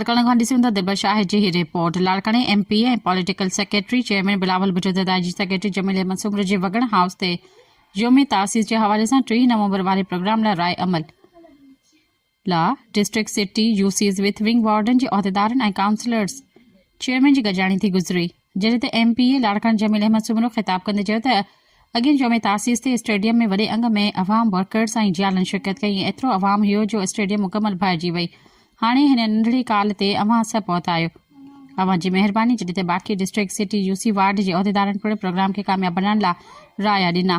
لاڙڪاڻي کان ڏسيون ته دبل شاهه جي هي رپورٽ لاڙڪاڻي M P ۽ political secretary chairman Bilawal Bhutto ته دائجي سيڪريٽري جميل احمد سومرو جي وڳڻ هائوس تي يوم تاسيس جي حوالي سان ٽيهه نومبر واري پروگرام لاء راء عمل لا، district city U Cs youth wing warden جي عهديدارن ۽ ڪائونسلرز چيئرمين جي گڏجاڻي ٿي گذري جنهن تي ايم پي اي لاڙڪاڻي جميل احمد سومرو خطاب ڪندي چيو ته اڳين جمعي تاسيس تي اسٽيڊيم ۾ وڏي انگ ۾ عوام ورڪرز ۽ جيالن شرڪت ڪئي ۽ ايترو عوام هيو جو اسٽيڊيم مڪمل ڀائجي وئي هاڻي هن ننڍڙي ڪال تي اوهان سڀ پهتا آهيو اوهان جي مهرباني جڏهن ته باقي district city U C ward جي عهديدارن پڻ پروگرام کي ڪامياب بنائڻ لاء رايا ڏنا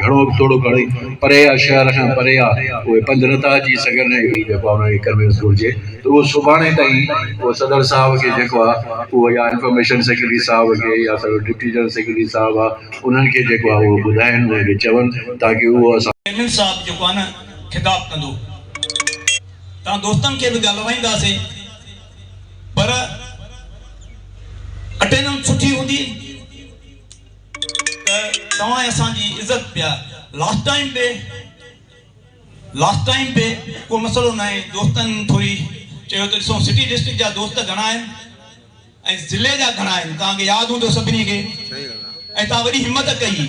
گهڻو به ٿورو گهڻو ئي پري آ، شهر کان پري آ، اهي پنڌ نٿا اچي سگهن ۽ اهي جيڪو آ انهن کي ڪنوينس گهرجي ته اهو سڀاڻي تائين اهو صدر صاحب کي جيڪو آ اهو يا انفارميشن سيڪريٽري صاحب کي يا سارو ڊپٽي جنرل سيڪريٽري صاحب آ انهن کي جيڪو آ اهو ٻڌائين انهن کي چون تاڪه اهو اسان چيئرمين صاحب جيڪو آ نه خطاب ڪندو تان دوستن کي به ڳالهوائينداسي پر اٽيننس سٺي هوندي. ته توهان اسان جي عزت پيا لاسٽ ٽائيم به لاسٽ ٽائيم به ڪو مسئلو ناهي دوستن ٿوري چيو ته ڏسون سٽي ڊسٽرڪٽ جا دوست گهڻا آهن ۽ ضلعي جا گهڻا آهن توهان کي ياد هوندو سڀني کي ۽ توهان وڏي همت ڪئي.